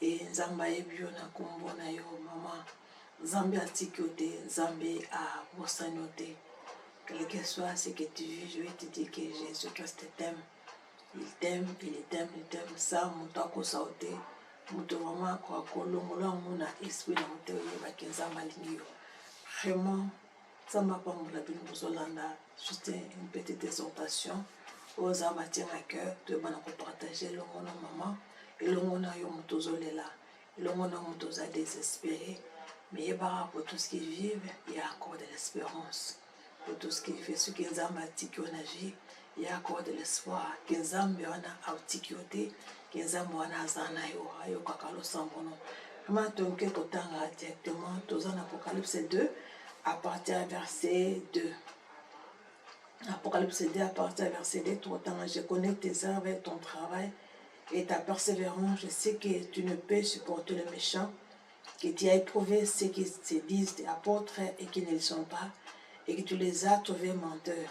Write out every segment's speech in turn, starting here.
e nzambe ayebi yo na kombo na yo mama nzambe atiki yo te nzambe abosani yo te quel que soit ce que tu vis je vais te dire que jésus christ t'aime il t'aime il t'aime il t'aime sa moto akosa yo te moto vraimen akoka kolongola yango na esprit na moto oyebaki nzambe alingi yo vraiment Nzambe apambola bino bozolanda juste une petite exhortation oyo eza matière na cœur toyebana kopartage elongo na mama elongo na yo moto ozolela elongo na moto oza désespéré mais yebaka pour tout ce qui vive il y a encore de l'espérance pour tout ce qui vive soki nzambe atiki yo na vie Ya Cor de l'espoir, ke Nzambe wana autiki yo te, ke Nzambe wana aza na yo, ayokaka losambo no. Vraiment, toke kotanga directement, toza na Apocalypse 2, à partir ya verset 2. Apocalypse 2, à partir ya verset 2, tokotanga, je connais tes œuvres et ton travail, et ta persévérance, je sais que tu ne peux supporter le méchant, que tu as éprouvé ceux qui se disent apôtres et qui ne le sont pas, et que tu les as trouvés menteurs.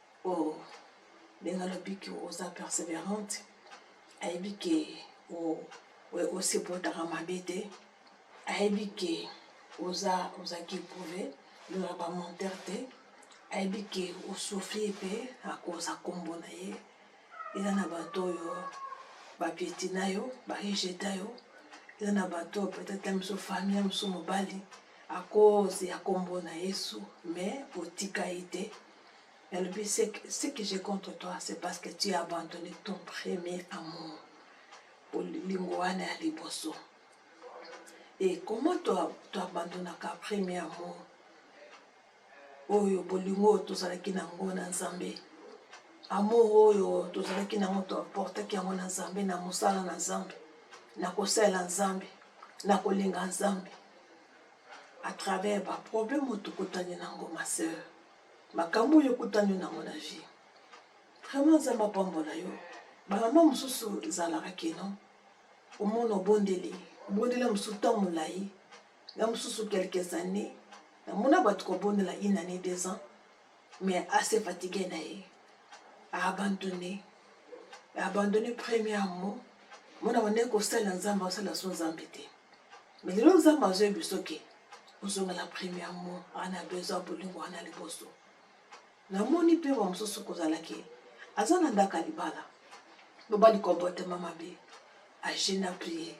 Oh, ndenge alobi ke oza perseverante, ayebi ke osepotaka mabe te, ayebi ke oza ozaki eprouve lola bamonteur te, ayebi ke osouffrir mpe akoza nkombo na ye. Eza na bato oyo bapiétina yo, barejeta yo, eza na bato oyo peut-être ya mosusu famille ya mosusu mobali akoze ya nkombo na Yesu, mais otika ye te. elobi ce que j'ai contre toi c'est parce que tu as abandonné ton premier amour bolingo wana ya liboso et comment toabandonaka premier amour oyo bolingo oyo tozalaki na yango na nzambe amour oyo tozalaki na yango toportaki yango na nzambe na mosala na nzambe na kosalela nzambe na kolinga nzambe à travers baproblème oyo tokutani na yango ma sœur makambo oyo okutani nango na vie vraiment nzambe apambola yo bamama mosusu ezalaka keno omona obondeli obondeli ya mosusu ntango molai na mosusu quelques années namona bato kobondela une année deux ans mais ase fatigue na ye aabandonne aabandonne premier mo mona bande kosala nzambe asala so nzambe te mais lelo nzambe azoyebi soki ozonga na premièrement wana ya besoin ya bolingo wana ya liboso namoni mpe ba mosusu kozala ke aza na ndako ya libala loba likomportema mabe age na prier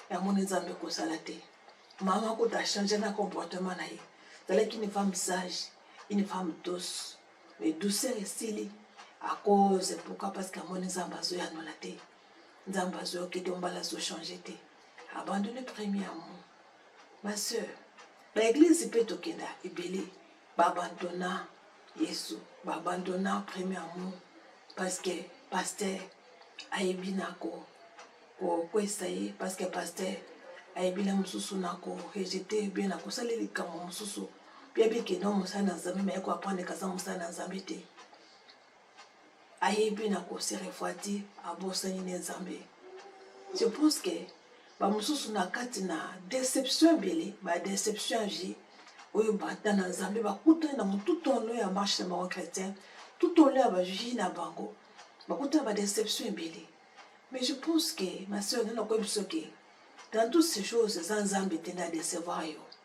yamoni nzambe kosala te mama kuta achange na comportement na ye zalaki une femme sage une femme douce mais douceur esili à cause pourquoi parce que amoni nzambe azoyanola te nzambe azoyoki te mbala azochange te abandonne premier amour Ma sœur, ba eglise pe tokenda ebele ba abandonna Yesu, ba abandonna premier amour parce que pasteur ayebi na ko kokwesa ye parce que pasteur ayebi na mosusu na ko rejete bie na kosali likambo mosusu bia bikenda mosala na Nzambe me ye ko apprendre kaza mosala na Nzambe te. ayebi na ko se refroidir abosani ne nzambe je pense que bamosusu na kati na deception ebele badeception ya vie oyo bata na nzambe bakutani na mo tout au long ya marche na bango chrétien tout au long ya bavie na bango bakutani na badeception ebele mais je pense que maseur nde nakoyebi soki dans toutes ces choses eza nzambe te nde adecevoir yo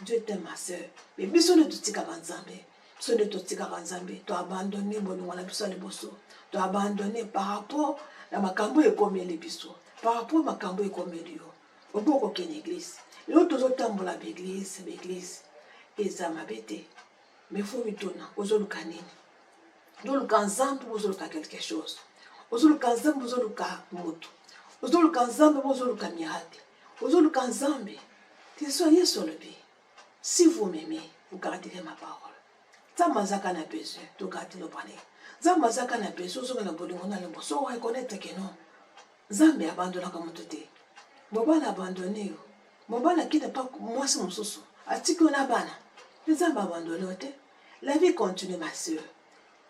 Dieu t'aime ma sœur. Mais biso nde totikaka Nzambe. Biso nde totikaka Nzambe. To abandonne bolingo na biso ya liboso. To abandonne par rapport na makambo ekomeli biso. Par rapport makambo ekomeli yo. Obo kokende église. Lelo tozotambola ba église, ba église. Eza mabe te. Mais faut mituna ozoluka nini? Ozoluka Nzambe ozoluka quelque chose. Ozoluka Nzambe ozoluka moto. Ozoluka Nzambe ozoluka miracle. Ozoluka Nzambe te so Yesu alobi si vous m'aimez vous garderez ma parole. Nzambe azaka na besoin to garder le palais. Nzambe azaka na besoin ozonga na bolingo na lombo so reconnaître que non. Nzambe abandonaka moto te. Mobali abandonne yo. Mobali akita pa mwasi mosusu atiki yo na bana. Nzambe abandonne yo te. La vie continue ma sœur.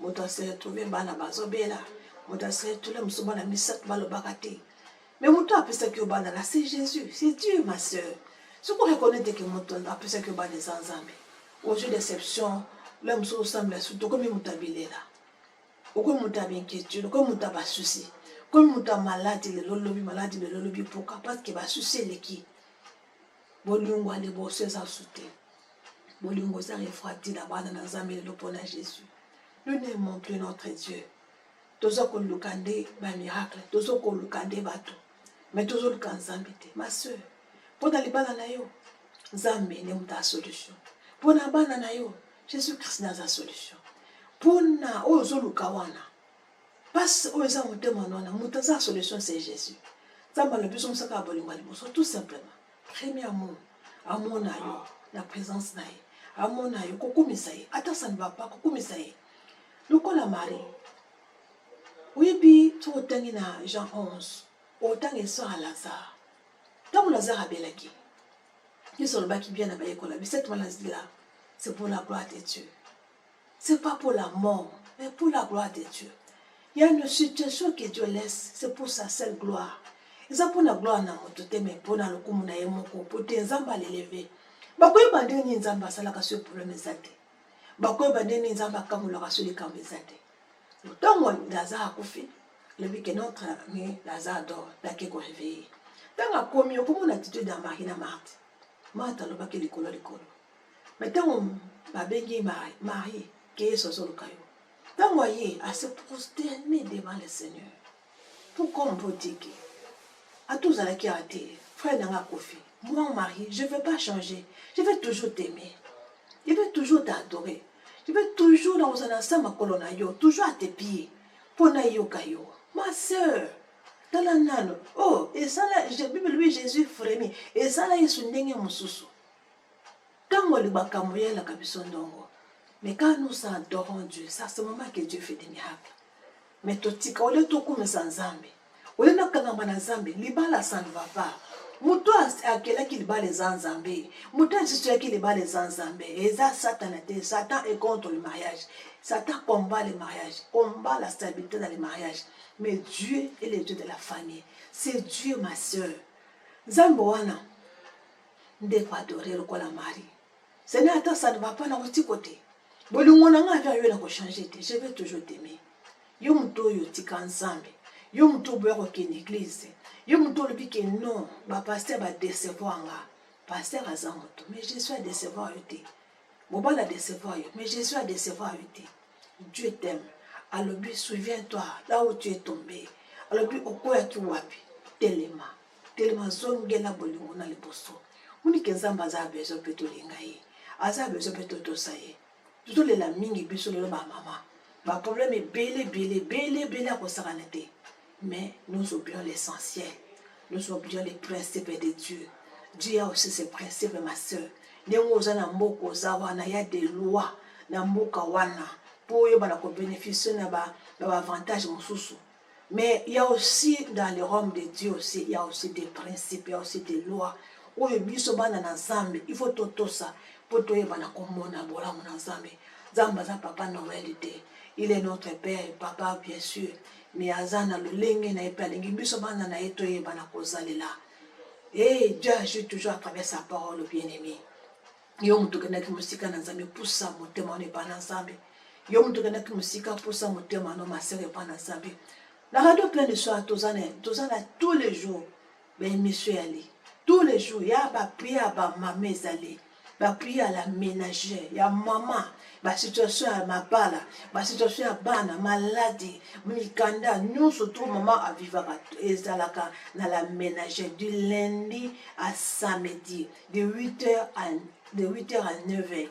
moto aseretrouve bana bazobela moto aseretrouve mosusu bana misato balobaka te mais moto apesaki yo bana na se jésus c'est dieu ma sœur soki oreconnaitre ke moto apesaki yo bana eza nzambe ozwi déception le mosusu osambela sutu okomi moto ya bilela okomi moto ya bainquiétude okomi moto ya basusi okomi moto ya maladi lelo lobi maladi lelo lobi mpoka parce que basusi eleki bolingo ya liboso eza su te bolingo eza refrati na bana na nzambe lelo mpo na jésus nous n'aimons plus notre dieu toza koluka nde bamiracle toza koluka nde bato mai tozoluka nzambe te ma soeur mpo na libala na yo nzambe nde moto ya solution mpo na bana na yo jésus christ nde aza solution mpo na oyo ozoluka wana Pasi oyo eza motema nwana, moto aza solution c'est Jésus. Nzambe alobi biso mosaka ya bolingo ya liboso tout simplement. Premier amour amona yo na présence na ye, amona yo kokumisa ye, ata ça ne va pas kokumisa ye. Lokola Marie, oyebi soki otangi na Jean 11 otangi histoire ya Lazare. Ntango Lazare abelaki, Yesu alobaki bien na bayekola, cette maladie là, c'est pour la gloire de Dieu. C'est pas pour la mort, mais pour la gloire de Dieu. Il y a une situation que Dieu laisse, c'est pour sa seule gloire. eza mpo na gloire na moto te mai mpo na lokumu na ye moko mpo te nzambe aleleve bakoyeba ndenge nini nzambe asalaka soki probleme eza te bakoyeba ndenge nini nzambe akamolaka soki likambo eza te ntango lazare akufi lobi ke notre ami lazare dor dake koreveille ntango akomi okomona attitude ya marie na marte marte alobaki likolo likolo me ntango babengi ye marie ke yesu azoluka yo ntango aye ase prosterne devant le seigneur tout comme botiki ata ozalaki awa te frère na nga akofi moi marie je veux pas changer je veux toujours t'aimer je veux toujours t'adorer je veux toujours na kozala na sa makolo na yo toujours à tes pieds mpo nayoka yo ma sœur tala nano oh esala bible lobi jésus frémi esala yesu ndenge mosusu Tango libaka moya laka biso ndongo. Mais quand nous adorons Dieu, c'est à ce moment que Dieu fait des miracles. Mais totika ole tokumisa Nzambe. Ole na kangama na Nzambe, libala ça ne va pas. Moto akelaki libala eza Nzambe. Moto asisuyaki libala eza Nzambe. Eza Satana te. Satan est contre le mariage. Satan combat le mariage, combat la stabilité dans le mariage. Mais Dieu est le Dieu de la famille. C'est Dieu, ma soeur. Nzambe wana ndeko adore lokola mari sene ata ça ne va pas na wuti kote bolingo na ngai avya yo na kochange te je vais toujours t'aimer yo moto oyo otika nzambe yo moto oboya kokende eglize yo moto olobi ke non bapaster badecevoir nga paster aza moto mais jésus adecevoir yo te mobali adecevoir yo mais jésus adecevoir yo te dieu t'aime alobi souviens toi là où tu es tombé alobi okweyaki wapi telema telema zonge na bolingo na liboso moni ke nzambe aza ya besoin mpe tolinga ye aza ya besoin mpe totosa ye tozolela mingi biso lelo bamama baproblème ebele ebele ebele ebele ya kosakana te mais nous oublions l'essentiel nous oublions les principes de dieu dieu ya aussi ses principes ma sœur ndenge oza na mboka oza wana ya de loi na mboka wana mpo oyebana kobénéficie na baavantage ba mosusu Mais il ya aussi dans le royaume de Dieu aussi il ya aussi des principes, il ya aussi des lois oyo biso bana na Nzambe il faut totosa mpo toyeba na komona bolamu na Nzambe. Nzambe aza papa Noël te, il est notre père papa bien sûr, mais aza na lolenge na ye mpe alingi biso bana na ye toyeba na kozalela. Et Dieu agit toujours à travers sa parole bien-aimé. yo moto okendaki mosika na nzambe pusa motema wana epai na nzambe yo moto okendaki mosika pusa motema wana masere epai na nzambe na radio plein de soir toza na toza na tous les jours baémission yali tous les jours ya baprie ya bamama ezali baprie ya la ménagère ya mama basituation ya mabala basituation ya bana maladi mikanda nyonso to mama avivaka ezalaka na la ménagère du lundi à samedi de 8 heures à de 8 heures à 9 heures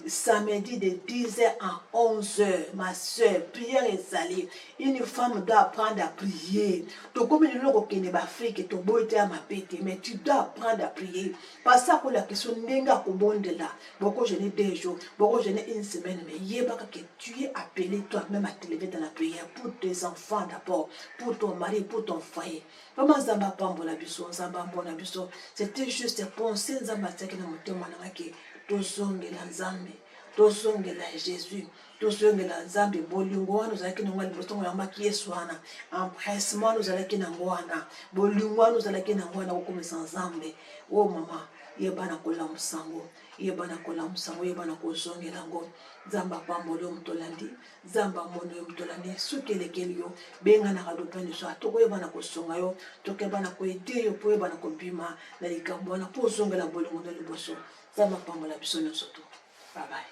samedi de 10 heures à 11 heures ma soeur prière ezali une femme doit apprendre à prier tokomi lelo kokende baafrike toboyi te ya mabe te mais tu dois apprendre à prier pasi akolakisa yo ndenge akobondela boko gene deux jours boko gene une semaine mais yebaka que tu es appelé toi même à t'élever dans la prière pour tes enfants d'abord pour ton mari pour ton foyer Mama Nzambe apambola biso, Nzambe amona biso. C'était juste pensée Nzambe atiaki na motema na ngai tozongela Nzambe, tozongela Jésus, tozongela Nzambe. Bolingo wana ozalaki nango liboso ngo yambaki Yesu wana, empressement wana ozalaki nango wana, bolingo wana ozalaki nango wana kokomisa Nzambe. O oh, mama, yeba na kolamusa ngo, yeba na kolamusa ngo, yeba na kozongela ngo. Nzambe apamboli yo moto olandi. nzambe amoni yo moto olandi soki elekeli yo benga na radio plein de soi tokoyeba na kosunga yo tokeba na koede yo mpo oyeba na kobima na likambo wana mpo ozongela bolingo na liboso nzambe apambola biso nyonso to babaye